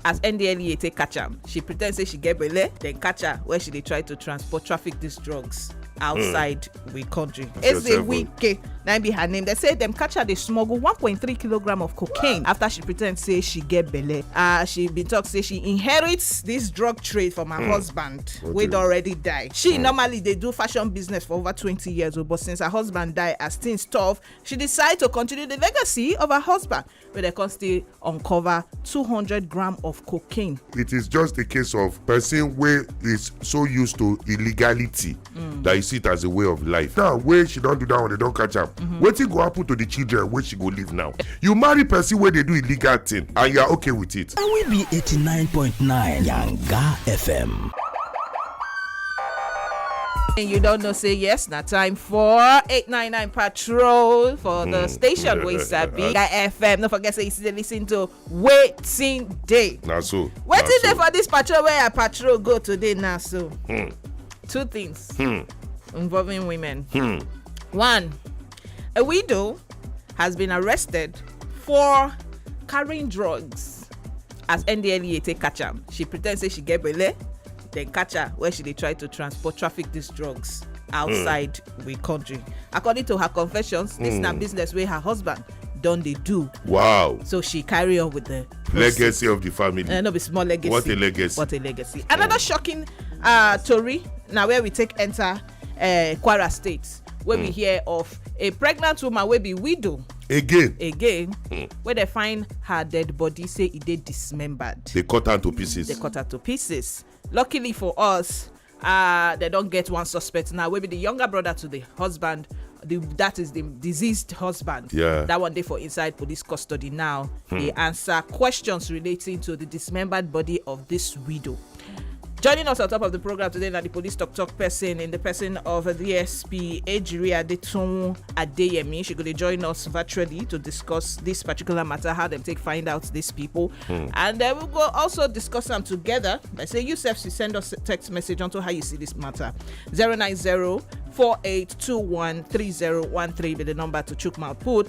as ndlea take catch am she pretend say she get belle then catch her when she dey try to transport traffic these drugs outside hmm. we country ezewike na im be her name dem say dem catch her dey smuggle 1.3 kilogram of cocaine after she pretend say she get belle ah, she bin talk say she inherit this drug trade from her hmm. husband wey don already die she hmm. normally dey do fashion business for over 20 years old oh, but since her husband die as things tough she decide to continue the legacy of her husband wey dem come still uncover 200 gram of cocaine. it is just a case of person wey is so used to illegality mm. that he see it as a way of life now wey she don do that one they don catch am mm -hmm. wetin go happen to the children wey she go leave now you marry person wey dey do illegal thing and you are okay with it. na we be 89.9 yanga fm. you don't know say yes na time for 899 part control for the station wey sabi na fm no forget say you still dey lis ten to wetin dey na so na wetin dey so. for dis patrol wey i patrol go today na so two things involving women one a widow has been arrested for carrying drugs as ndlea take catch am she pretend say she get belle then catch her where she dey try to transport traffic these drugs outside mm. we country according to her confessions this mm. na hmm. business wey her husband don dey do wow so she carry on with the legacy of the family uh, no be small legacy what a legacy what a legacy another mm. shocking uh, tori na where we take enter uh, kwara state wey we hmm. hear of a pregnant woman wey be widow again again hmm. wey dey find her dead body say e dey dismembered dey cut am to pieces dey cut am to pieces luckily for us uh, they don get one suspect now wey be the younger brother to the husband the, that is the deceased husband. Yeah. That one day for inside police custody now. Hmm. They answer questions relating to the dismembered body of this widow. Joining us on top of the program today na the police tok tok person in the person of DSP Ejiri Adetunwu Adeyemi. She go dey join us virtually to discuss this particular matter, how dem take find out these people. And then we go also discuss am together by say you sef should send us text message onto how you see this matter. 090 4821 3013 be the number to chook mouth put.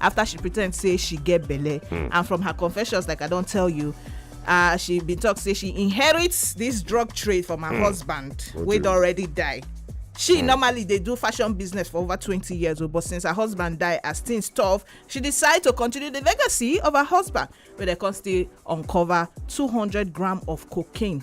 after she pretend say she get belle hmm. and from her confessions like i don tell you uh, she bin talk say she inherits this drug trade from her hmm. husband wey don already die she hmm. normally dey do fashion business for over twenty years oh, but since her husband die as things tough she decide to continue the legacy of her husband wey dem come still uncover two hundred gram of cocaine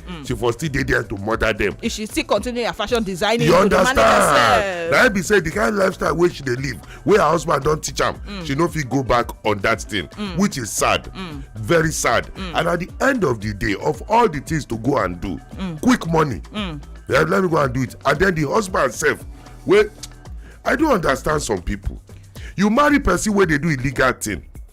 mm. she for still dey there to murder them. if she still continue her fashion designing you understand na be say the kind lifestyle wey she dey live wey her husband don teach am mm. she no fit go back on that thing mm. which is sad mm. very sad mm. and at the end of the day of all the things to go and do mm. quick money mm. yeah, let me go and do it and then the husband sef wey i don understand some people you marry person wey dey do illegal thing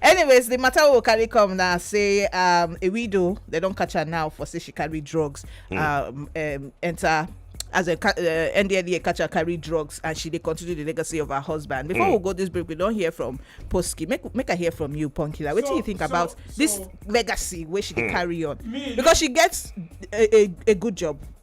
anyways the matter will carry come now say um, a widow they don't catch her now for say she carry drugs mm. um, um, enter as a uh, NDLEA catcher carry drugs and she they continue the legacy of her husband. Before mm. we go this break, we don't hear from Posky. Make make I hear from you, Punkila. What so, do you think so, about so, this legacy where she mm. carry on? Me, because she gets a, a, a good job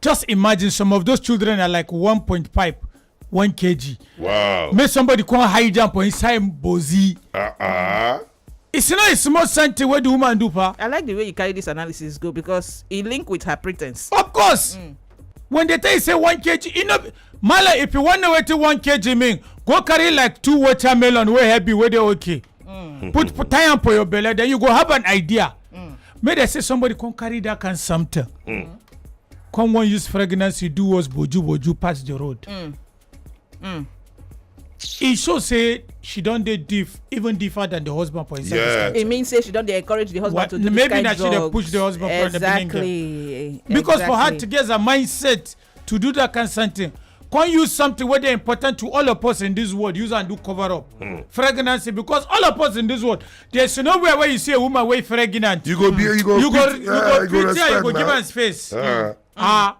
just imagine some of those children are like 1.5 1 kg Wow. make somebody come high jump for inside bozi Ah ah. it's not a small something wey the woman do pa i like the way you carry this analysis go because e link with her pretense. of course when they tell you say 1 kg you know mala if you wan know wetin 1 kg mean go carry like two watermelon wey heavy wey dey okay mm. put, put tie am for your belly then you go have an idea mm. make dem say somebody come carry that kind something mm. come wan use pregnancy do us boju boju pass the road mm. Mm. e show say she don dey diff even differ than the husband for inside yeah. this e mean say she don dey encourage the husband what? to do maybe this kind drugs maybe na she dey push the husband exactly. for the beginning exactly because for her to get her mindset to do that kind something come use something wey dey important to all of us in this world use am do cover up pregnancy because all of us in this world there is nowhere wey you see a woman wey pregnant You go be you go you go pit- you yeah, go treat her you respect go give na. am space Ah. ah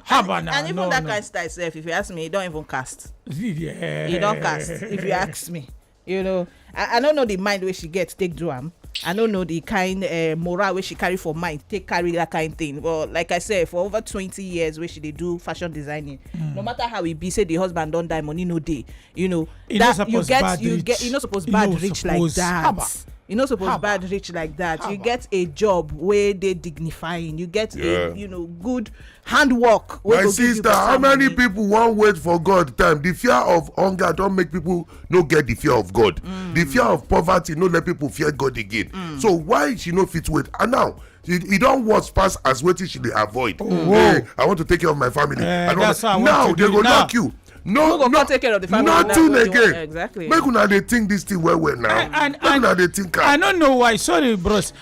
haba na and even no that no kind style sef if you ask me e don even cast Yeah. e don cast if you ask me you know i i no know the mind wey she get take do am i no know the kind uh, morale wey she carry for mind take carry that kind thing but like i said for over twenty years wey she dey do fashion designing mm. no matter how e be say the husband don die money no dey you know e that no you get you rich. get you no suppose e bad no rich suppose like that. Haba. you no suppose Haba. bad rich like that Haba. you get a job wey dey dignifying you get yeah. a you know good handwork wey my go give you sister how better many money people wan wait for god time the fear of hunger don make people no get the fear of god Mm. the fear of poverty no let people fear god again Mm. so why she no fit wait and now e e don worse pass as wetin she dey avoid Oh. hey i want to take care of my family Eh, I don't that's how I want now to they do go it now. knock you Who no go no come take care of the family now nothing wey you wan- again exactly make una dey think this thing well well now make una dey think am I don't know why. Sorry, bros.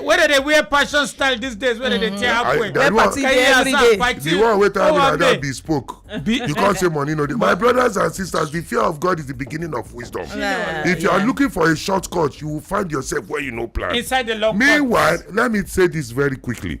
wey dey dey wear passion style these days wey dey dey tear I- akwe that one- Party dey every day. the one wey tell me like that be spoke you come say money no dey my brothers and sisters the fear of god is the beginning of wisdom Yeah, if you are yeah. looking for a shortcut you will find yourself where you no plan inside the lock meanwhile let me say this very quickly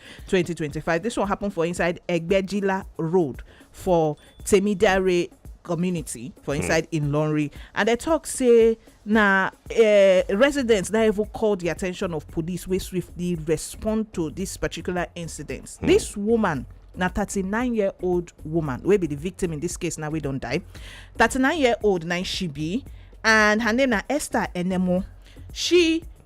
2025. This one happened for inside Egbejila Road for Temidare community for hmm. inside mm. in Lonri. And they talk say na uh, residents that even called the attention of police wey swiftly respond to this particular incident. Mm. This woman na 39 year old woman wey be the victim in this case now we don die 39 year old na she be and her name na esther enemo she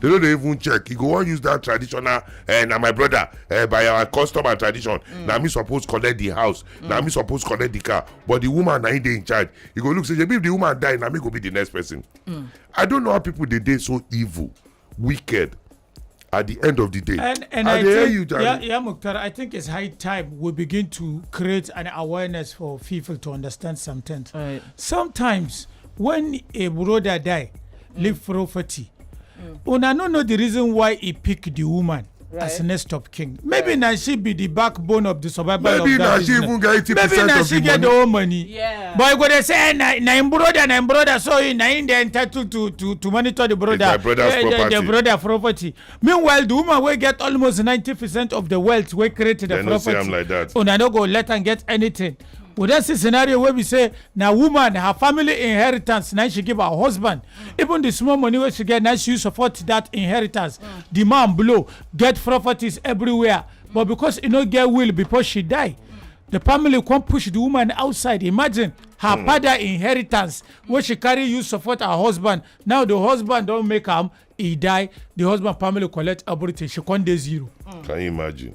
They no dey even check. You go wan use that traditional, eh, na my brother, eh, by our custom and tradition. Mm. Na me suppose collect the house. Mm. Na me suppose collect the car. But the woman na him dey in charge. You go look say, if the woman die, na me go be the next person. Mm. I don't know how people dey dey so evil, wicked. At the end of the day, and, and I, I think, you, yeah, yeah, Mukhtar, I think it's high time we begin to create an awareness for people to understand something. Right. Sometimes when a brother die, leave property una no know the reason why he pick the woman as Right. next of kin maybe na she be the backbone of the survival Maybe of that na she business. even get 80% maybe na of she the get the money. whole money Yeah. but you go dey say eh, na na him brother na him brother so he na him dey entitled to to to monitor the brother my brother's eh, the- the property. brother property meanwhile the woman wey get almost ninety percent of the wealth wey create the They no see property am like that. una no go let am get anything we don see scenario wey be say na woman her family inheritance na she give her husband even the small money wey she get na she use support that inheritance the man blow get properties everywhere but because e no get will before she die the family come push the woman outside imagine her father inheritance wey she carry use support her husband now the husband don make am e die the husband family collect everything she come dey zero. Can you imagine?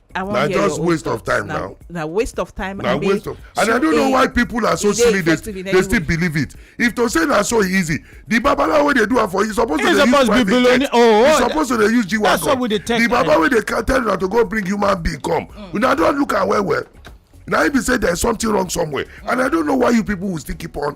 I want na just waste of time now. na waste of time. na waste of and i don't know why people are so silly they they still believe it if to say na so easy the babalawo wey dey do am for you suppose to dey use private jet oh, you oh, suppose to dey use g wagon the baba wey dey tell una to go bring human being come mm. una don look am well well na im be say there is something wrong somewhere and i don't know why you people will still keep on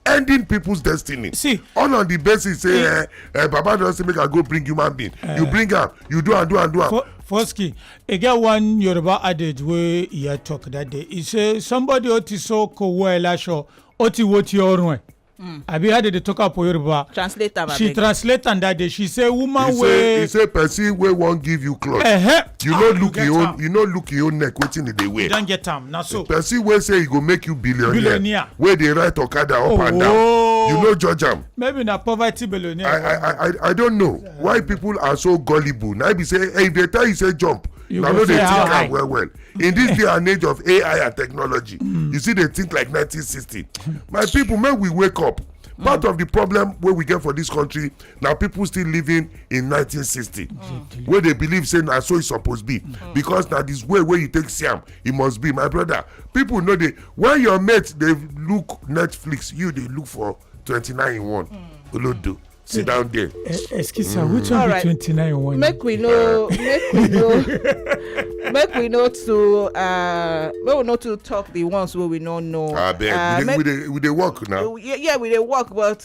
ending people's destiny see all on the basis say eh, eh, baba don say make i go bring human being uh, you eh. bring am you do am do am do am. foski e get one yoruba adage wey iya talk that day e say somebody o ti so kowo ẹ laṣọ o ti wo ti ọrùn ẹ. Mm. abi how dey dey talk am for yoruba translate am she translate am that day she say woman wey he say person wey wan give you cloth uh -huh. you no look get your own am. you no look your own neck wetin e dey you wear don get am na so person wey say e go make you billionaire Billionaire. wey dey ride okada up and down Oh. you no judge am maybe na poverty i billionaire i i i- i don't know why people are so gullible na be say eh, if they tell you say jump You na go no dey say how think high. am well well in this day and age of ai and technology you still dey think like 1960 my people make we wake up part of the problem wey we get for this country na people still living in 1960 mm. wey dey believe say na so e suppose be mm. because na this way wey you take see am e must be my brother people no dey when your mate dey look netflix you dey look for 29 in one mm. olodo sit down there. Eh, eh, excuse me, which one be 29 in one. make we no make we no make we no too uh, make we no too talk the ones wey we no know. abeg ah, uh, we dey we dey work now. yeah we dey work but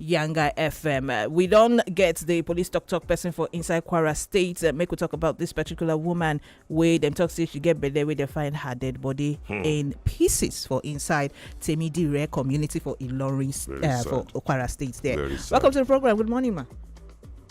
Yanga FM. Uh, we don't get the police talk talk person for inside Kwara State. Uh, make we talk about this particular woman where them talk say she get better where they find her dead body hmm. in pieces for inside Temidire community for Ilorin uh, for Kwara State there. Welcome to the program. Good morning, ma.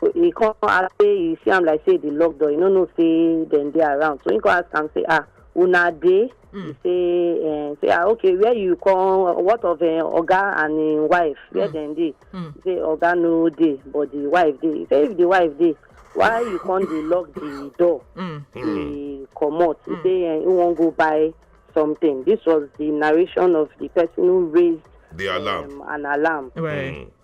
so he come ask say he see am like say the lock door he no know say dem dey around so he come ask am say ah una dey mm. he say uh, say ah okay where you come what of uh, oga and him wife where mm. dem dey mm. he say oga no dey but the wife dey he say if the wife dey why you come dey lock the door mm. dey hmm. comot he mm. say uh, he wan go buy something this was the narration of the person who raised the alarm um, an alarm right. mm.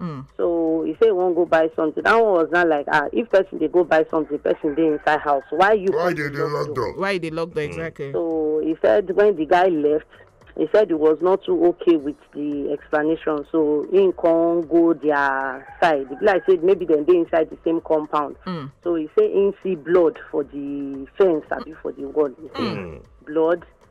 Mm. So he say he wan go buy something. That one was not like ah, if person dey go buy something, person dey inside house. Why you? Why they dey lock door? Why you dey lock door exactly? So he said when the guy left, he said he was not too okay with the explanation. So he can go their side. It be Like said maybe then they inside the same compound. Mm. So he say he see blood for the fence, abi for the wall. He say blood.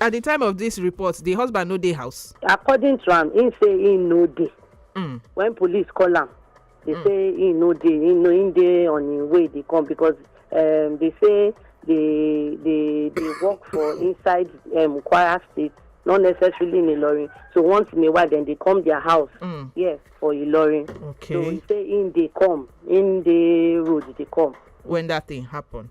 At di time of dis report, di husband no dey house? According to am, im say im no dey. Mm. Wen police call am, dey mm. say im no dey, im no im dey on im way dey come because um, dey say dey dey dey work for inside um, Kwara State not necessarily in Ilorin. So once in a while, then they come their house. Mm. Yes, for Ilorin. Okay. So we say in they come, in the road they come. When that thing happened.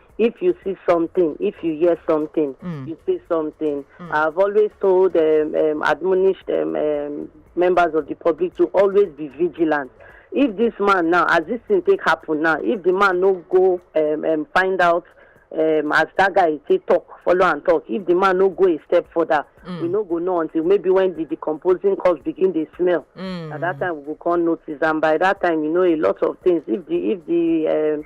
if you see something if you hear something Mm. you say something i've always told um, um, admonished um, um, members of the public to always be vigilant if this man now as this thing take happen now if the man no go um, um, find out um, as that guy say talk follow am talk if the man no go a step further we no go know until maybe when the decomposing corpse begin dey smell Mm. at that time we go come notice and by that time you know a lot of things if the if the um,